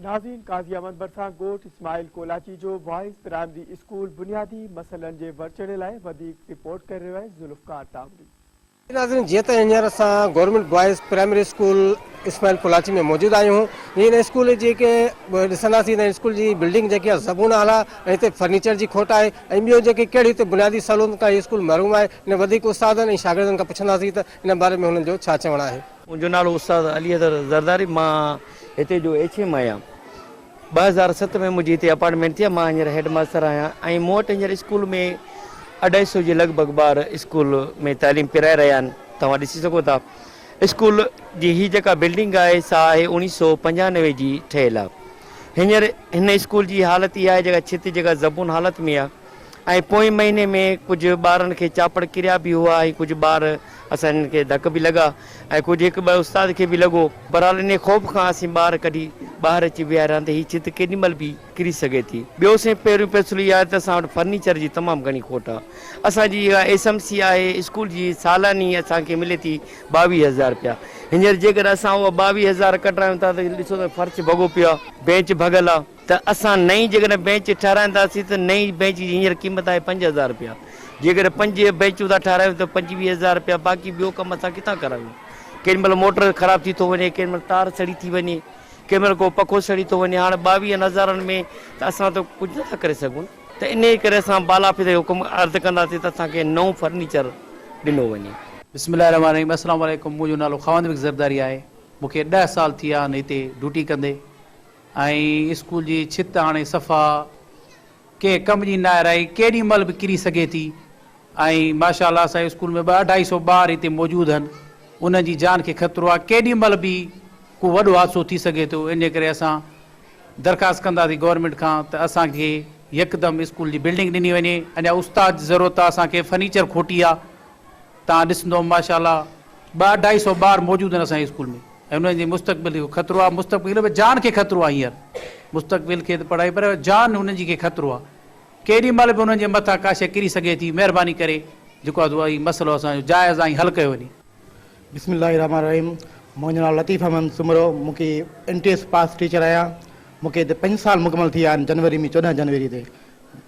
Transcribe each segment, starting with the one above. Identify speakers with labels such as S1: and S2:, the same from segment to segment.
S1: نازين قاضي احمد ڀرسان ڳوٺ اسماعيل ڪولاچي جو بوائز پرائمري اسڪول بنيادي مسئلن جي ورچڙي لاء وڌيڪ رپورٽ ڪري رهيو آهي ذوالفقار تاوڙي. جي ناظرين جيئن
S2: ته هينئر اسان government boys primary school Ismail Kolachi ۾ موجود آهيون جي هن اسڪول جي ڪي ڏسنداسين ته اسڪول جي بلڊنگ جيڪي آهي زبون حال آهي ۽ هتي فرنيچر جي کٽ آهي ۽ ٻيو جيڪي ڪهڙي هتي بنيادي سهولتن کان هي اسڪول محروم آهي ان وڌيڪ استادن ۽ شاگردن کان پڇنداسين ته ان باري ۾ هنن جو ڇا چوڻ آهي. منهنجو نالو استاد
S3: علي حيدر زرداري مان هتي جو ايڇ ايم آهيان ٻه هزار ست ۾ منهنجي هتي اپارٽمينٽ ٿي مان هينئر هيڊ ماستر آهيان ۽ مون وٽ هينئر اسڪول ۾ اڍائي سو جي لڳ ڀڳ ٻار اسڪول ۾ تعليم پرائي رهيا آهن توهان ڏسي سگهو ٿا اسڪول جي هي جيڪا بلڊنگ آهي سا آهي اوڻيهه سو پنجانوي جي ٺهيل آهي هينئر هن اسڪول جي حالت اها آهي جيڪا ڇت جيڪا زبون حالت ۾ آهي ۽ پوئين مهيني ۾ ڪجهه ٻارن کي چاپڙ ڪريا به هئا ۽ ڪجهه ٻار اسان هنن کي ڌڪ به لڳا ۽ ڪجهه هڪ ٻه استاد کي به لڳو. بهرحال انهي خوف کان اسين ٻار ڪڍي ٻاهر اچي ويهاريا ته هي ڇت ڪيڏي مهل به ڪري سگهي ٿي. ٻيو سائين پهريون فيصلو اهو آهي ته اسان وٽ فرنيچر جي تمام گهڻي کوٽ آهي. اسان جي اها ايس ايم سي آهي اسڪول جي سالاني اسان کي ملي ٿي ٻاويهه هزار رپيا. هينئر جيڪڏهن اسان اها ٻاويهه هزار ڪڍرايون ٿا ته ڏسو ته فرش ڀڳو پيو آهي. بينچ ڀڳل آهي. ته اسان نئين جيڪڏهن بينچ ٺهرائينداسين ته نئين بينچ جي هينئر قيمت آهي پنج هزار رپيا، جيڪڏهن پنج بينچون ٿا ٺهرايون ته پنجويهه هزار رپيا، باقي ٻيو ڪم اسان ڪٿان ڪرايون، ڪيڏي مهل موٽر خراب ٿي ٿو وڃي، ڪيڏي مهل تار سڙي ٿي وڃي، ڪيڏي مهل ڪو پکو سڙي ٿو وڃي، هاڻ ٻاويهن هزارن ۾ ته اسان ته ڪجهه نٿا ڪري سگهون نه. ته انهيء ڪري اسان بالا آفيس کي حڪم عرض ڪنداسين ته اسان کي نئون فرنيچر ڏنو وڃي. بسم الله الرحمٰن الرحيم
S4: السلام عليڪم منهنجو نالو خواندبيگ زرداري آهي مونکي ڏهه سال ٿي ويا آهن هتي ڊيوٽي ڪندي ۽ اسڪول جي ڇت هاڻي صفا ڪنهن ڪم جي ناهي رهي، ڪيڏي مهل به ڪري سگهي ٿي ۽ ماشاء الله اسان جي اسڪول ۾ ٻه اڍائي سو ٻار هتي موجود هن، انهن جي جان کي خطرو آهي، ڪيڏي مهل به ڪو وڏو حادثو ٿي سگهي ٿو، انهي ڪري اسان درخواست ڪنداسين گورنمينٽ کان ته اسان کي يڪدم اسڪول جي بلڊنگ ڏني وڃي، اڃا استاد جي ضرورت آهي، اسان کي فرنيچر کوٽي آهي. تان ڏسندوم ماشاء الله ٻه اڍائي سئو ٻار موجود آهن اسان جي اسڪول ۾ ۽ انهن جي مستقبل کي خطرو آهي مستقبل به جان کي خطرو آهي هينئر مستقبل کي ته پڙهائي پر جان انهن جي کي خطرو آهي ڪيڏي مهل به انهن جي مٿان ڪا شئي ڪري سگهي ٿي مهرباني ڪري جيڪو آهي سو هي مسئلو اسان جو جائز آهي حل ڪيو وڃي. بسم الله الرحمٰن
S5: الرحيم منهنجو نالو لطيف احمد سومرو مون کي انٽي ايس پاس ٽيچر آهيان مون کي هتي پنج سال مڪمل ٿي ويا آهن جنوري ۾ چوڏهن جنوري تي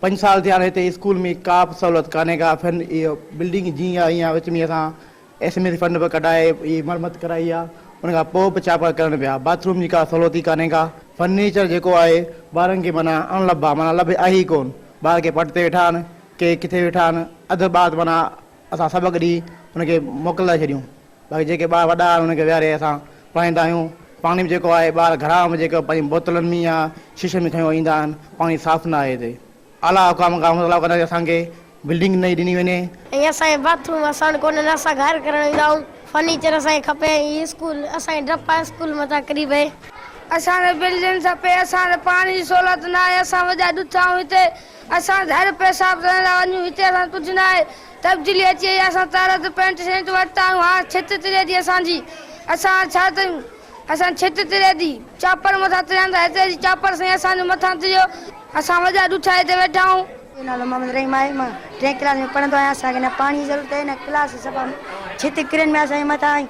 S5: پنج سال ٿيا آهن هتي اسڪول ۾ ڪابه سهولت ڪانهي ڪا فن اهي بلڊنگ جيئن آهي ايئن آهي وچ ۾ اسان ايس ايم ايس فنڊ به ڪڍائي اهي مرمت ڪرائي آهي ان کان پوء به ڇا پيا ڪرڻ پيا باٿ روم جي ڪا سهولت ئي ڪانهي ڪا فرنيچر جيڪو آهي ٻارن کي معنيٰ اڻ لڀ آهي معنيٰ لڀ آهي ئي ڪون ٻار ڪي پٽ تي ويٺا آهن ڪي ڪٿي ويٺا آهن اڌ ٻات معنيٰ اسان سڀ گڏي هن کي موڪلائي ڇڏيون باقي جيڪي ٻار وڏا آهن انهن کي ويهاري اسان پڙهائيندا آهيون پاڻي به جيڪو آهي ٻار گهرا ۾ جيڪو پنهنجي بوتلن ۾ يا شيشن ۾ کنيو ايندا آهن پاڻي صاف نه آهي هتي اعليٰ حڪام کان مطالبو ڪنداسين اسان کي بلڊنگ نئين ڏني وڃي. ۽ اسان کي باٿ
S6: روم وسائڻ ڪونهن نه اسان گهر ڪرڻ ايندا آهيون فرنيچر اسان کي کپي ۽ هي اسڪول اسان کي ڊپ آهي اسڪول متان قريب اهي. اسان کي
S7: بلڊنگ کپي اسان کي پاڻي جي سهولت نه آهي اسان وڏا ڏٺا آهيون هتي اسان گهر پيشاب ڪرڻ لاء وڃون هتي اسان کي ڪجهه ناهي تبديلي اچي وئي آهي اسان تارت پينٽ شينٽ ورتا آهيون هاڻ ڇت تري ٿي اسان جي اسان هاڻ ڇا ڪيون اسان ڇت تري ٿي چاپڙ مٿان تريان ٿا هتي اچي چاپڙ سائين اسان جو مٿان تريو اسان وڏا ڏٺا هتي ويٺا آهيون. منهنجو نالو محمد رحيم
S6: آهي مان ٽئين ڪلاس ۾ پڙهندو آهيان اسان کي نه پاڻي جي ضرورت آهي نه ڪلاس سفا ڇت ڪرين ۾ اسان جي مٿان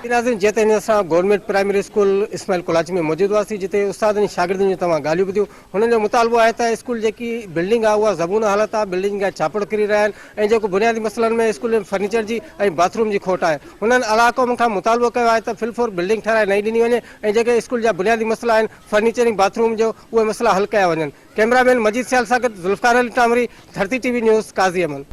S6: ناظرين جيئن ته هينئر اسان
S2: government primary school Ismail Kolachi ۾ موجود هئاسين جتي استادن ۽ شاگردن جون توهان ڳالهيون ٻڌيون هنن جو مطالبو آهي ته اسڪول جيڪي بلڊنگ آهي اها زبون حالت آهي بلڊنگ جا ڇاپڙ ڪري رهيا آهن ۽ جيڪو بنيادي مسئلن ۾ اسڪول ۾ فرنيچر جي ۽ باٿ روم جي کوٽ آهي هنن اعليٰ قوم کان مطالبو ڪيو آهي ته فل فور بلڊنگ ٺهرائي نئين ڏني وڃي ۽ جيڪي اسڪول جا بنيادي مسئلا آهن فرنيچر ۽ باٿ روم جو اهي مسئلا حل ڪيا وڃن ڪئميرا مين مجيد سيال سان گڏ Zulfiqar Ali Tamri Dharti T V news Qazi Ahmed